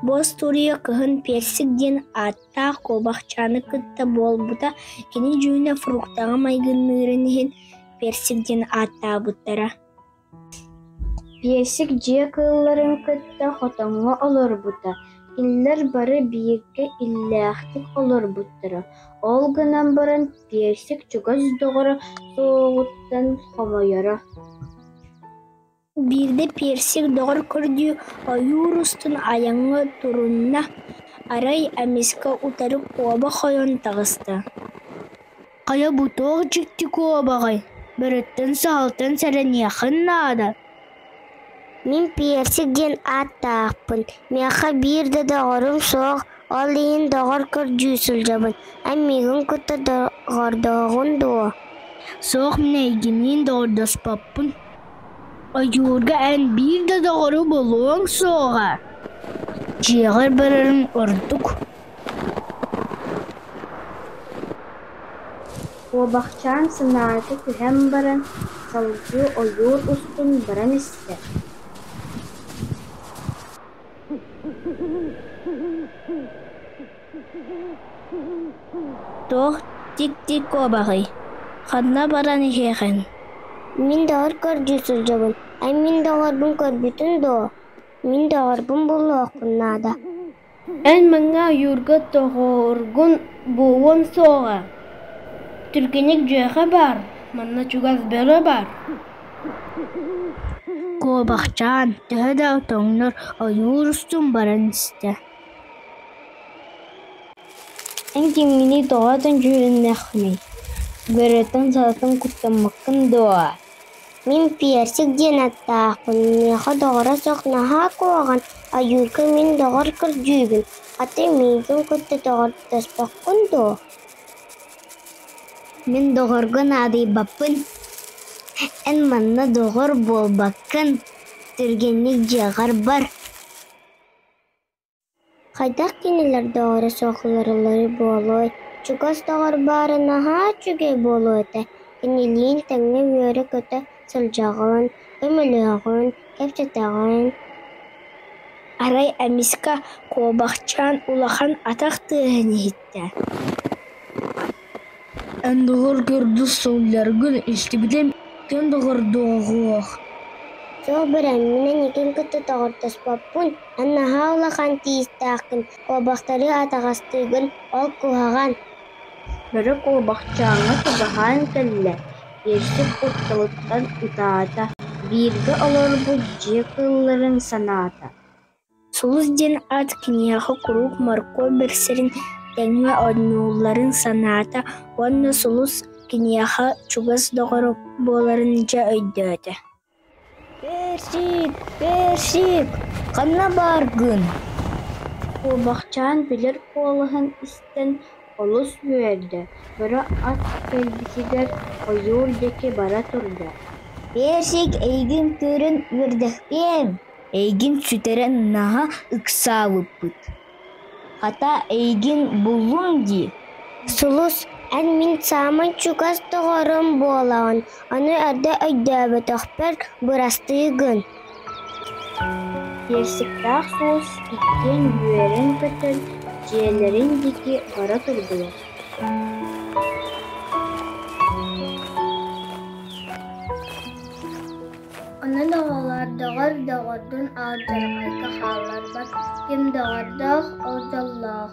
Бу остуоруйа кыһын персик диэн ааттаах куобахчааны кытта буолбута кини дьүһүнэ фруктаҕа майгынныырын иһин персик диэн ааттаабыттара Персик дьиэ кыылларын кытта хотоҥҥо олорбута. Кинилэр бары бииргэ иллээхтик олорбуттара. Ол гынан баран Персик чугас доҕоро суоҕуттан хомойоро Биирдэ персик доҕор көрдүү ойуур устун айаҥҥа турунна, арай эмискэ утары куоба хойон таҕыста «Хайа бу туох дьикти куобаҕай, бөрөттөн-саһылтан сэрэниэххин наада» Мин Персик диэн ааттаахпын, миэхэ биир да доҕорум суох, ол иһин доҕор көрдүү сылдьабын. Амигын кытта доҕордооҕун дуо? Суох, мин эйигиниин доҕордоспоппун. Ойуурга эн биир да доҕору булуоҥ суоҕа. Дьиэҕэр барарыҥ ордук. Куобахчаан санаата түһэн баран, салгыы ойуур устун баран истэ Туох тик-тик куобаҕый? Ханна баран иһиэхин? Мин доҕор көрдүү сылдьабын. Эн мин доҕорбун көрбүтүҥ дуо? Мин доҕорбун булуоххун наада Эн маҥҥа ойуурга тоҕуоргун буолуон суоҕа, түргэнник дьүөхэ баар, манна чугас бөрө баар куобахчаан төһө да отоҥнор ойуур устун баран истэ эн кимҥиний тоҕо отон дьүһүннэххиний бөрөтүн салатын куттаммаккын дуо Мин персик диэн аттаахпын, миэхэ доҕоро суох наһаа куһаҕан, айыырга мин доҕор кырдьыыбын, ate миигин кытта доҕордоспоккун дуо Мин доҕорго наадыйбаппын, эн манна доҕор буолбаккын, түргэнник дьиэҕэр бар Хайдах кинилэр доҕоро суох уларыйар буолуой, чугас доҕор баара наһаа үчүгэй буолуо этэ, кинилиин тэҥҥэ үөрэ-көтө сылдьаҕын, көмөлөһөҕүн, кэпсэтэҕин. Арай эмискэ куобахчаан улахан атах тыаһын иһиттэ Эн доҕор көрдө сылдьаргын истибитим иккиэн доҕордоох Сөбүр эн, мин эникин кытта доҕордоспоппун, эн наһаа улахан тиистээххин, куобахтары атаҕастыыгын, ол куһаҕан Бөрө куобахчааҥҥа чугаһаан кэллэ, иэсчит кутталыттан ытаата, бииргэ олорбут дьиэ кыылларын санаата Сулус диэн аат киниэхэ куруук моркуоп бэксэрин тэҥҥэ оонньуулларын санаата уонна Сулус киниэхэ чугас доҕоро буоларын дьэ өйдөөтө «Персик, персик, ханна бааргын?» Куобахчаан билэр куолаһын истэн олус үөрдэ, көрө ат кэлбитигэр ойуур диэки бара турда: «Персик эйигин көрөн үөрдэхпиэм» Эйигин сүтэрэн наһаа ыксаабыппыт, хата эйигин буллум дии Сулус, эн мин саамай чугас доҕорум буолаҕын, аны эрдэ өйдөөбөтөхпөр бырастыы гын Персиктаах уус иккиэн үөрэн көтөн, дьиэлэрин диэки бара турдулар Онон оҕолор доҕор доҕордун алдьархайга хаалларбат, ким доҕордоох, ол дьоллоох.